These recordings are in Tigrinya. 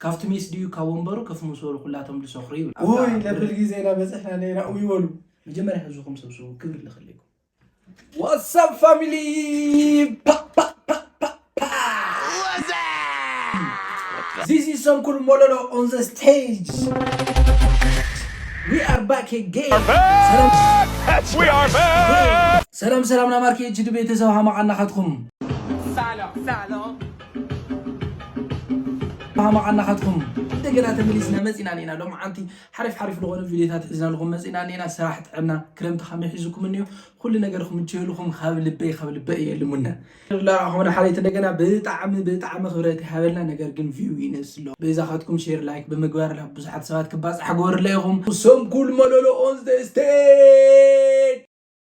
ካብቲ ሜስ ድዩ ካብ ወንበሩ ክፍ ምስ በሉ ኩላቶም ድሰኽሩ ይብል። ኡይ ነብል ግዜ ኢና በጽሕና ኣለና ኡይ በሉ። መጀመርያ ህዝብኹም ሰብስቡ ክብሪ ንኽልኢኩም። ዋትሳፕ ፋሚሊ This is Sonkul Mololo on the stage. We are back again. ሰላም We are back! ሰላም ሰላም ናማርኪ እጅ ድቤተሰብ ሃማቃ ናኻትኩም Salo, salo. ማማዓ ናኻትኩም እንደገና ተመሊስና መፂና ኔና ሎም ዓንቲ ሓሪፍ ሓሪፍ ዝኾነ ቪዲዮታት ሒዝናልኹም መፂና ኔና ስራሕ ጥዕና ክረምቲ ከመይ ሒዙኩም እኒኦ ኩሉ ነገር ክምችየልኹም ካብ ልበይ ካብ ልበይ እየ ልሙነ ላኹምና ሓለይቲ እንደገና ብጣዕሚ ብጣዕሚ ክብረት ይሃበልና ነገር ግን ቪው ይነስሎ በዛኻትኩም ሼር ላይክ ብምግባር ናብ ብዙሓት ሰባት ክባፅሕ ግበርለ ኢኹም ሰንኩል መለሎኦን ስቴጅ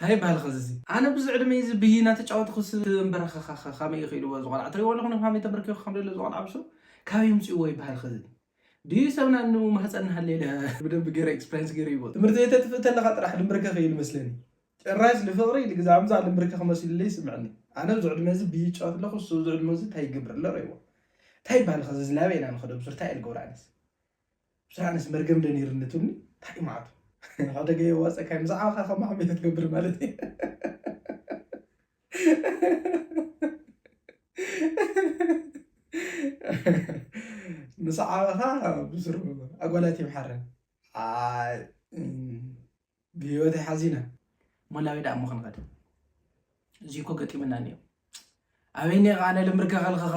ታይ ይባሃል ኸዚ እዚ ኣነ ብዚ ዕድመይ እዚ ብይ ናተጫወትኹስ እምበረኸኸኸ ኸመይ እዩ ኽኢልዎ እዚ ቆልዓ ትሪእዎ ኣለኹም ኸመይ ተምበርኪኹ ኸም ደሎ እዚ ቆልዓ ብሱ ካበይ ኣምፂእዎ ይባሃል ኸዚ ድዩ ሰብ ናኑ ማህፀን ናሃለየ ለ ብደንቢ ገይረ ኤክስፕሪንስ ገይረ ይብሉ ትምህርቲ ቤት ተጥፍእ ተለኻ ጥራሕ ልምብርከኽ እዩ ልመስለኒ ጭራሽ ልፍቕሪ ልግዛምዛ ልምብርከኽ መሲሉለይ ይስምዐኒ ኣነ ብዚ ዕድመ እዚ ብይ ይጫወት ኣለኹ እሱ ብዚ ዕድመ እዚ ታይ ይገብር ኣሎ ረእይዎ ታይ ይባሃል ኸዚ እዚ ናበይ ኢና ንኸዶ ብሱር ታይ እየ ልገብሮ ኣነስ ብስራነስ መርገም ዶ ነይሩ ንትብሉ ታይ ማዓቱ ሓደገ የዋፀካይ ምስ ዓበካ ከም ማሕመድ ትገብር ማለት እዩ ምስ ዓበካ ብስሩ ኣጓላት ይምሓረን ብሂወተይ ሓዚነ እሞ ናበይ ደኣ እሞ ክንኸድ እዚ እኮ ገጢምና እኒኦ ኣበይ እኒኦ ከዓ ነለ ምርከ ከልኸኸ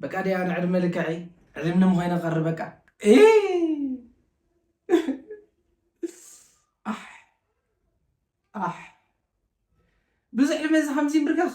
በቃ ዲያ ንዕድመ ልክዐይ ዕድምኒ ምኮይነ ቀሪ በቃ ብዙሕ ዕድመ እዚ ከምዚ ምርከኽ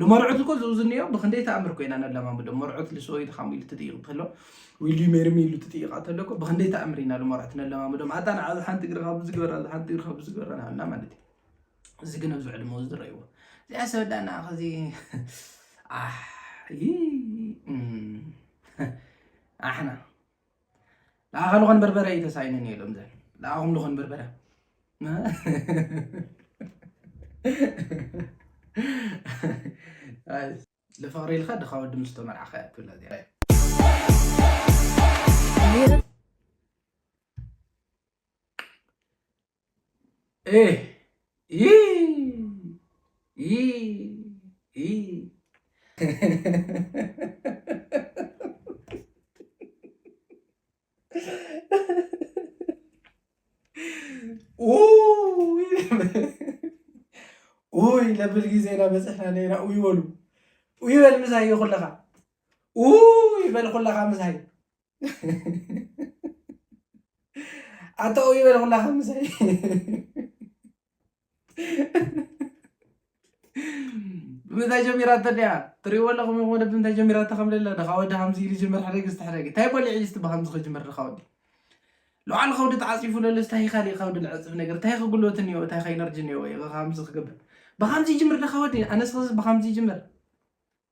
ንመርዑት እኮ ዝውዝንዮ ብክንደይ ተኣምር እኮ ኢና ነለማምዶም መርዑት ልሶ ኢልካም ኢሉ ትጥይቕ ተሎ ዊልዩ ሜርሚ ኢሉ ትጥይቓ ተሎ እኮ ብክንደይ ተኣምር ኢና ንመርዑት ነለማምዶም ኣታ ንዓ እዚ ሓንቲ እግርኻ ብዚ ግበራ እዚ ሓንቲ እግርኻ ብዚ ግበራ ንዓና ማለት እዩ እዚ ግን ኣብዚ ዕድመ እዚ ዝረእይዎ እዚኣ ሰወዳና ከዚ ኣሕ ኣሕና ንዓኻ ልኾን በርበረ እዩ ተሳኢኑ እኒኦ ኢሎም ዘን ንዓኹም ልኾን በርበረ ልፍቕሪ ኢልካ ድኻ ወዲ ምስ ተመርዓኻ እያ ትብላ እዚኣ ውይ ለብል ጊዜ ኢና በፅሕና ነና ውይ በሉ ውይ በል ምሳይ ኩለኻ ውይ በል ኩለኻ ምሳይ ኣታ ኡይ በለ ኩላ ከምሳይ ብምንታይ ጀሚራቶ ድያ ትሪእዎ ኣለኹም ወደ ብምንታይ ጀሚራቶ ከም ለለ ድኻ ወዲ ከምዚ ኢሉ ጀመር ሓደ ግስቲ ሓደ ግስቲ እንታይ በሊዕ ኢሉ ብከምዚ ክጅምር ድኻ ወዲ ልዓል ከውዲ ተዓፂፉ ለሎ እንታይ ካሊእ ከውዲ ልዕፅፍ ነገር እንታይ ክጉልበት እኒኦ እንታይ ከኢነርጂ እኒኦ ከምዚ ክገብር ብከምዚ ይጅምር ድኻ ወዲ ኣነስ ብከምዚ ይጅምር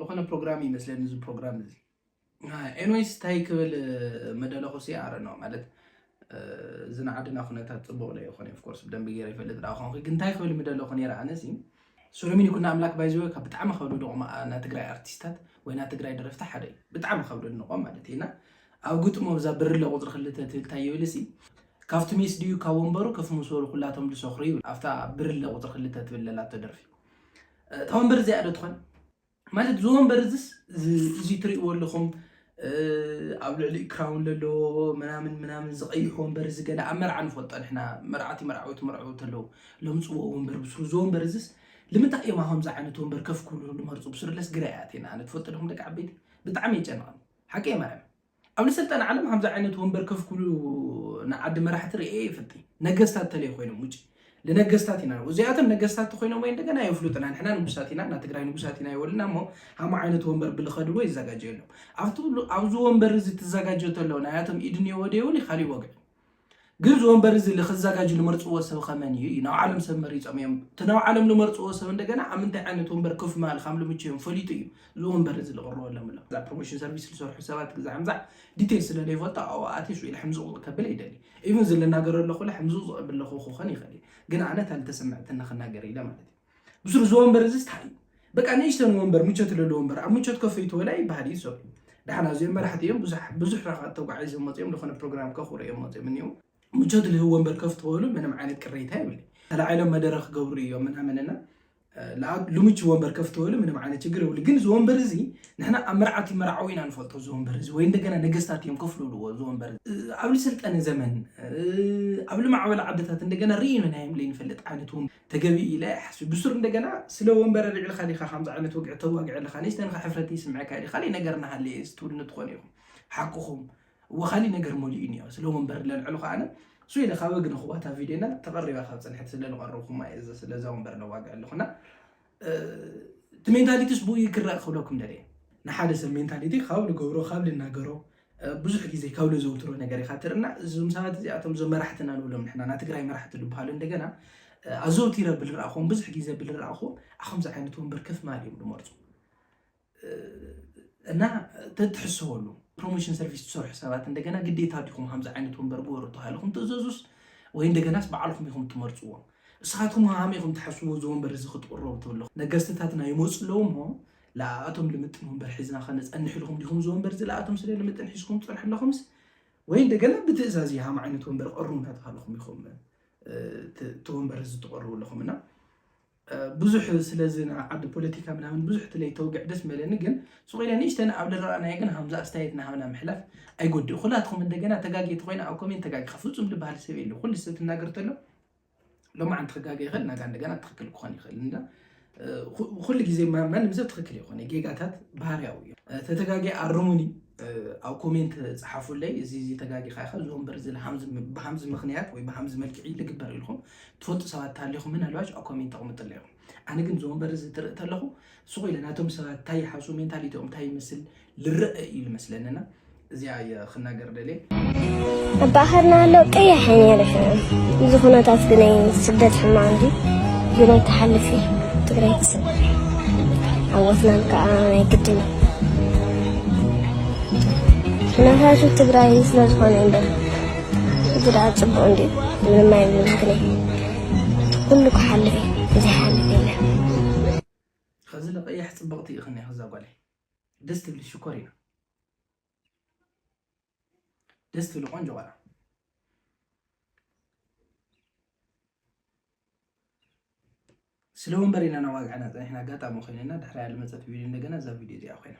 ዝኾነ ፕሮግራም ይመስለኒ እዚ ፕሮግራም እዚ ኤንዌይስ እንታይ ክብል መደለኹ ሲ ኣረ ነው ማለት እዚ ናይ ዓድና ኩነታት ፅቡቅ ዶ ይኮን ኦፍ ኮርስ ብደንቢ ገይረ ይፈልጥ ዳኣ ኮንኩ ግን እንታይ ክብል ምደለኩ ነይረ ኣነሲ ሱሉሚን ይኩኖ ኣምላክ ባይ ዘ ወይ ካብ ብጣዕሚ ካብ ደድቆም ናይ ትግራይ ኣርቲስታት ወይ ናይ ትግራይ ደረፍቲ ሓደ እዩ ብጣዕሚ ካብ ደድንቆም ማለት እዩ እና ኣብ ግጥሙ ኣብዛ ብርለ ቁፅሪ ክልተ ትብል እንታይ ይብል እሲ ካብቲ ሜስ ድዩ ካብ ወንበሩ ከፍ ምስ በሉ ኩላቶም ዝሰኽሩ ይብል ኣብታ ብርለ ቁፅሪ ክልተ ትብል ለላቶ ደርፊ እታ ወንበር እዚኣ ዶ ትኾን ማለት እዚ ወንበር እዚስ እዚ ትርእይዎ ኣለኹም ኣብ ልዕሊ ክራውን ለሎ ምናምን ምናምን ዝቐይሕ ወንበር እዚ ገለ ኣብ መርዓ ንፈልጦ ንሕና መርዓቲ መርዓዊ ትመርዕው ተለዉ ለምፅዎ ወንበር ብስሩ እዚ ወንበር እዚስ ልምንታይ እዮም ከምዚ ዓይነት ወንበር ከፍ ክብሉ ልመርፁ ብስርለስ ግራ እያ ኣነ ትፈልጡ ዲኹም ደቂ ዓበይቲ ብጣዕሚ የጨንቐኒ ሓቂ እየ ማርያም ኣብ ንሰልጠነ ዓለም ከምዚ ዓይነት ወንበር ከፍ ክብሉ ንዓዲ መራሕቲ ርእየ ይፍልጥ ነገስታት ተለይ ኮይኖም ውጭ ንነገስታት ኢና እዚኣቶም ነገስታት ኮይኖም ወይ እንደገና የፍሉጥና ንሕና ንጉሳት ኢና እና ትግራይ ንጉሳት ኢና ይበሉና እሞ ሃማ ዓይነት ወንበር ብልኸድዎ ይዘጋጀየሎም ኣብቲ ኣብዚ ወንበር እዚ ትዘጋጀ ተሎ ናያቶም ኢድ እኒኦዎ ደይውን ካሊእ ወግዕ ግን እዚ ወንበር እዚ ልክዛጋጅ ልመርፅዎ ሰብ ከመን እዩ እዩ ናብዓሎም ሰብ መሪፆም እዮም እቲ ናብዓሎም ልመርፅዎ ሰብ እንደገና ኣብ ምንታይ ዓይነት ወንበር ክፍ ማል ካም ልምቸዮም ፈሊጡ እዩ እዚ ወንበር እዚ ልቕርበሎም ኣሎ እዛ ፕሮሞሽን ሰርቪስ ልሰርሑ ሰባት ግዛዕምዛዕ ዲቴል ስለ ለይፈልጦ ኣብኡ ኣትየ ሽዑ ኢለ ሕምዝቕ ከብል ይደሊ ኢቨን እዚ ልናገረ ኣለኹ ለ ሕምዝቕ ዝቐብል ለኹ ክኾን ይኽእል እዩ ግን ኣነ ታልተሰምዐተኒ ክናገር ኢለ ማለት እዩ ብሱር እዚ ወንበር እዚ ስታይ እዩ በቃ ንእሽተን ወንበር ምቾት ለለ ወንበር ኣብ ምቾት ከፍ ይትበላ ይበሃል እዩ ሰብ ዳሕና እዚኦም መራሕቲ እዮም ብዙሕ ራካት ተጓዒዝ መፅኦም ዝኾነ ፕሮግራም ከኽሩ እዮም መፅኦም እኒው ምቾት ልህብ ወንበር ከፍ ትበሉ ምንም ዓይነት ቅሬታ ይብል ተላዒሎም መደረ ክገብሩ እዮም ምናምንና ልምቹ ወንበር ከፍ ትበሉ ምንም ዓይነት ችግር ይብሉ ግን እዚ ወንበር እዚ ንሕና ኣብ መርዓት ይመርዓዊ ኢና ንፈልጦ እዚ ወንበር እዚ ወይ እንደገና ነገስታት እዮም ከፍ ልብልዎ እዚ ወንበር ኣብ ልሰልጠነ ዘመን ኣብ ልማዕበለ ዓድታት እንደገና ርኢኑ ናዮም ዘይንፈልጥ ዓይነት ተገቢ ኢለ ኣይሓስብን ብሱር እንደገና ስለ ወንበር ኣልዒልካ ዲካ ከምዚ ዓይነት ወግዒ ተዋግዕ ኣለካ ለይስ ንንካ ሕፍረት ይስምዐካ እዩ ካሊእ ነገር እናሃለየ እዚ ትብልኒ ትኮኑ ኢኩም ሓቅኩም እወ ካሊእ ነገር መሊኡ እኒኦ ስለ ወንበር ለልዕሉ ከዓነ ሱ ኢለ ካብ ግንክዋታ ቪድዮና ተቐሪባ ካብ ፅንሕት ስለ ዝቐረብኩማ እየ ስለዛ ወንበር ለዋግዕ ኣለኩና እቲ ሜንታሊቲስ ብኡ እዩ ክረእ ክብለኩም ደልየ ንሓደ ሰብ ሜንታሊቲ ካብ ልገብሮ ካብ ልናገሮ ብዙሕ ግዜ ካብ ልዘውትሮ ነገር ኢኻ ትርና እዞም ሰባት እዚኣቶም እዞም መራሕትና ንብሎም ንሕና ናይ ትግራይ መራሕቲ ልበሃሉ እንደገና ኣዘውቲረ ብልረኣኹም ብዙሕ ግዜ ብልረኣኹም ኣኸምዚ ዓይነት ወንበር ከፍ ማል እዮም ዝመርፁ እና ተትሕሰበሉ ፕሮሞሽን ሰርቪስ ትሰርሑ ሰባት እንደገና ግዴታ ዲኹም ከምዚ ዓይነት ወንበር ግበሩ ተባሂልኩም ትእዘዙስ ወይ እንደገናስ በዓልኩም ኢኹም ትመርፅዎ እሳቱም ሃም ኢኹም ትሓስቡ እዚ ወንበር እዚ ክትቕረቡ ትብሉ ነገስትታትና ይመፁ ኣለዉ እሞ ለኣቶም ልምጥን ወንበር ሒዝና ከነፀንሕ ኢልኩም ዲኹም እዚ ወንበር እዚ ለኣቶም ስለ ልምጥን ሒዝኩም ፅርሑ ኣለኹምስ ወይ እንደገና ብትእዛዝ ሃም ዓይነት ወንበር ቀሩ እናተባሃልኹም ኢኹም እቲ ወንበር እዚ ትቐርቡ ኣለኹም እና ብዙሕ ስለዚ ንዓዲ ፖለቲካ ምናምን ብዙሕ ትለይ ተውግዕ ደስ መለኒ ግን ሱቅ ኢለ ንእሽተን ኣብ ልረኣናዮ ግን ሃምዛ ኣስተያየት ናሃብና ምሕላፍ ኣይጎድእ ኩላትኩም እንደገና ተጋጌ ተኮይነ ኣብ ኮሜንት ተጋጊካ ፍጹም ልበሃል ሰብ የለ ኩሉ ሰብ ትናገር ተሎ ሎማዓንቲ ክጋገ ይኽእል ናጋ እንደገና ትኽክል ክኾን ይኽእል እንዳ ኩሉ ግዜ ማንም ሰብ ትኽክል ይኾነ ጌጋታት ባህርያዊ እዩ ተተጋጊ ኣርሙኒ ኣብ ኮሜንት ጸሓፉለይ እዚ እዚ ተጋጊኻ ኢኻ እዚ ወንበር እዚ ብሃምዚ ምኽንያት ወይ ብሃምዚ መልክዒ ልግበር ኢልኩም ትፈልጡ ሰባት ተሃሊኹም ምናልባሽ ኣብ ኮሜንት ተቕምጥለ ኢኹም ኣነ ግን እዚ ወንበር እዚ ትርኢ ተለኹ ስቑ ኢለ ናቶም ሰባት እንታይ ይሓሱ ሜንታሊቲኦም እንታይ ይመስል ልረአ እዩ ልመስለንና እዚኣ ክናገር ደልየ እባህርና ኣሎ ቀያሕ ነርሕ እዚ ኩነታት ግናይ ስደት ሕማ እንዲ ግናይ ተሓልፊ ትግራይ ትስብ ዓወትናን ከዓ ናይ ግድን ኩነታቱ ትግራይ ስለ ዝኾነ እምበር እዚ ደኣ ፅቡቅ እንዲ ምንም ኣይብልን ግናይ ኩሉ ክሓልፍ እዚ ሓልፍ የለ ከዚ ለቀያሕ ፅብቅቲ ኢኽኒ ከዛ ጓለይ ደስ ትብሊ ሽኮር ኢና ደስ ትብሉ ቆንጆ ቆልዓ ስለ ወንበር ኢና ናዋግዕና ፀኒሕና ኣጋጣሚ ኮይነና ድሕሪያ ልመፀት ቪድዮ እንደገና እዛ ቪድዮ እዚኣ ኮይና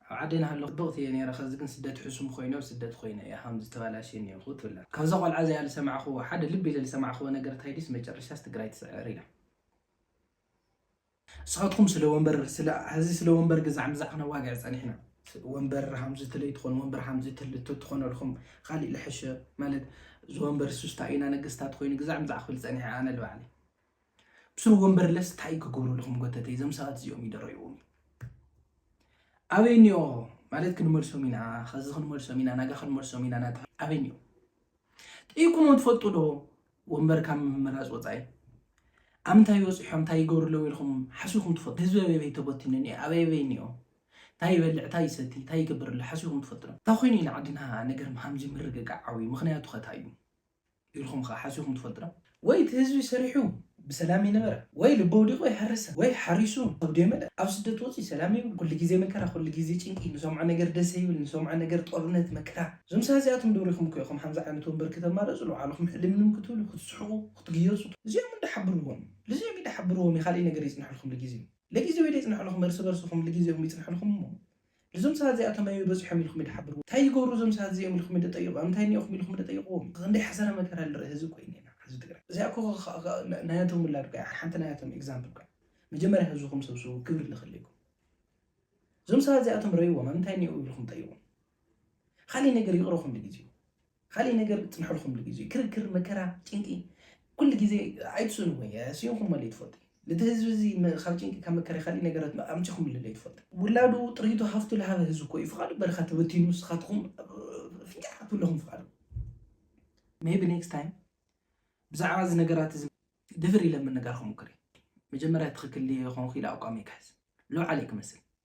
ኣብ ዓደይ ናሃለኩ ጽብቅቲ እየ ነይረ ከዚ ግን ስደት ሕሱም ኮይኑ ኣብ ስደት ኮይነ እየ ሃምዚ ተባላሽየ ኔርኩ ትብላ ካብዛ ቆልዓ እዚኣ ልሰማዕክዎ ሓደ ልብ ኢለ ልሰማዕክዎ ነገር እንታይ ድዩስ መጨረሻስ ትግራይ ትስዕር ኢላ ንስካትኩም ስለ ወንበር ስለ ሀዚ ስለ ወንበር ግዛዕ ምዛዕ ክነዋግዕ ጸኒሕና ወንበር ሃምዚ ትለይ ትኮን ወንበር ሃምዚ ትትኮነልኩም ካሊእ ልሐሸ ማለት ዝወንበር ሱስታ ኢና ነገስታት ኮይኑ ግዛዕ ምዛዕ ክብል ጸኒሐ ኣነ ልባዕለይ ብስሩ ወንበርለስ ታይ ክገብሩ ኣለኹም ጎተተይ እዞም ሰባት እዚኦም ይደረይዎም ኣበይ እኒኦ ማለት ክንመልሶም ኢና ከዚ ክንመልሶም ኢና ናጋ ክንመልሶም ኢና ናታ ኣበይ እኒኦ ጠይቁሞ ትፈልጡ ዶ ወንበር ካብ ምምራፅ ወፃኢ ኣብ ምንታይ ይበፅሖም እንታይ ይገብሩ ኣለዉ ኢልኩም ሓሲኹም ትፈልጡ ህዝቢ ኣበበይ ተበቲኑ እኒኦ ኣበበይ እኒኦ እንታይ ይበልዕ እንታይ ይሰቲ እንታይ ይገብር ኣሎ ሓሲኹም ትፈልጡ ዶ እንታይ ኮይኑ ኢና ዓድና ነገር ሃምዚ ምርግጋዕ ዓብዩ ምክንያቱ ከታይ እዩ ኢልኩም ከ ሓሲብኩም ትፈልጡ ዶ? ወይ እቲ ህዝቢ ሰሪሑ ብሰላም ይንበር ወይ ልቢ ኣውዲቁ ይሓርሰ ወይ ሓሪሱ ከብዱ የመልእ ኣብ ስደት ወጺኡ ሰላም ይብል ኩሉ ግዜ መከራ ኩሉ ግዜ ጭንቂ ንሰምዖ ነገር ደስ ኣይብል ንሰምዖ ነገር ጦርነት መከራ እዞም ሰባት እዚኣቶም ዶ ሪኩም ከ ኢኩም ሓምዚ ዓይነት ወንበር ክተማረጹ ልባዕልኩም ሕልምልም ክትብሉ ክትስሕቁ ክትግየጹ እዚኦም እንዳ ሓብርዎም ልዚኦም ኢዳ ሓብርዎም ኢካልእይ ነገር ይጽንሕልኩም ልጊዜኡ ለጊዜኡ ኢዳ ይጽንሕልኩም እርሲ በርስኩም ልጊዜኩም ይጽንሕልኩም እሞ እዞም ሰባት እዚኣቶም ኣበይ በጺሖም ኢልኩም ድሓብርዎ ታይ ይገብሩ እዞም ሰባት እዚኦም ኢልኩም ድጠይቁ ኣምንታይ እኒኦኹም ኢልኩም ድጠይቅዎም ኢኹ ክንደይ ሓሰረ መከራ ልርኢ ህዝቢ ኮይኒ ኢና ህዝቢ ትግራይ እዚኣ እኮ ናያቶም ውላድ እኮ እያ ሓንቲ ናያቶም ኤግዛምፕል እኮ እያ መጀመርያ ህዝብኹም ሰብስቡ ክብሪ ልኽልይኩም እዞም ሰባት እዚኣቶም ረይዎም ኣምንታይ እኒኦ ኢልኩም ጠይቁ ካሊእ ነገር ይቅረኹም ንግዜኡ ካሊእ ነገር ክፅንሐልኩም ድዩ እዚ ክርክር መከራ ጭንቂ ኩሉ ግዜ ኣይትስእኑ ወይ ስኢንኩም መለ ትፈልጡ ነቲ ህዝቢ እዚ ካብ ጭንቂ ካብ መከራ ካሊእ ነገራት ኣምፂኹም ልለ ትፈልጡ ውላዱ ጥሪቱ ሃፍቱ ልሃበ ህዝቢ ኮ እዩ ፍቓዱ በረኻ ተበቲኑ ንስኻትኩም ፍንጫዕ ክትብለኹም ፍቓዱ ሜቢ ኔክስት ታይም ብዛዕባ እዚ ነገራት እዚ ድፍር ኢለ ምንጋር ክሙክር እዩ መጀመርያ ትኽክል ኮንኩ ኢለ ኣቋሚ ክሕዝ ሎዓለይ ክመስል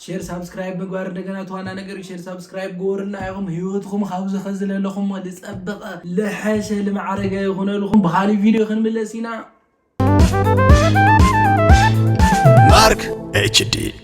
ሼር ሳብስክራይብ ምግባር እንደገና እቲ ዋና ነገር እዩ። ሼር ሳብስክራይብ ግበሩልና ኢኹም ህይወትኩም ካብዚ ከዚ ለለኹሞ ዝፀበቐ ልሐሸ ልማዕረገ ይኹነልኹም። ብኻሊእ ቪድዮ ክንምለስ ኢና። ማርክ ኤችዲ